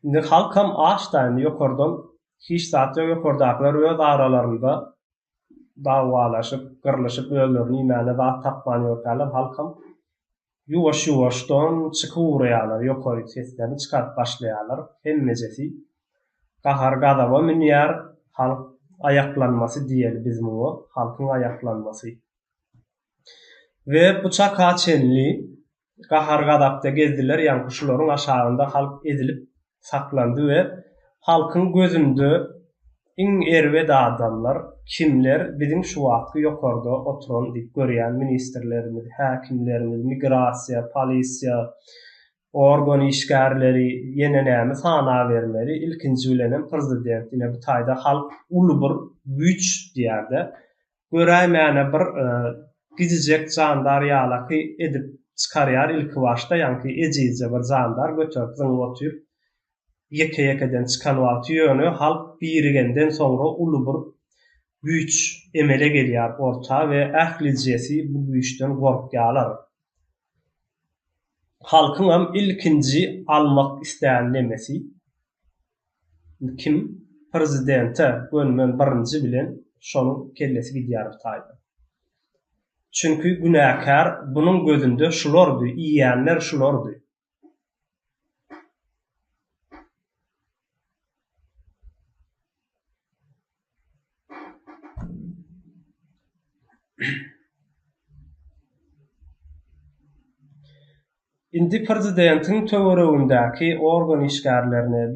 Indi halkam aç da indi ýokardan hiç zat ýok ýokardakylar öz aralarynda dawwalaşyp gyrlyşyp özlerini iýmäne zat tapman ýörkäler halkam ýuwaş ýuwaşdan çykyp ugraýalar ýokaryk seslerini çykaryp başlaýalar hemmejesi gahar gazaba münýär halk aýaklanmasy diýeli biz muňa halkyň aýaklanmasy we bu çaka çenli gahar-gazapda gezdiler, ýaňky şularyň aşagynda halk ezilip saklandy we halkyň gözünde iň erbet adamlar kimler, biziň şu wagtky ýokarda oturan diýip görýän ministrlerimiz, häkimlerimiz, migrasiýa, polisiýa, organ işgärleri, ýene näme sanabermeli, ilkinji bilenem prezident, ine bu taýda halk uly bir güýç diýýär-de, göräýmäne bir gidijek jandar ýalaky edip çykarýar ilkibaşda ýaňky ejizje bir jandar göterip zyňyp otyr ýeke ýekeden çykan wagty ýöne halk birigenden soňra uly bir güýç emele gelýär orta we ählijesi bu güýçden gorkýalar halkyňam ilkinji almak islän nemesi Kim prezidente gönmen birinji bilen şonuň kellesi gidýär bu taýdan. Çünki günäkär bunuň gözünde şulardy, iýenler şulardy. Indi prezidentiň töweregindäki organ işgärlerine,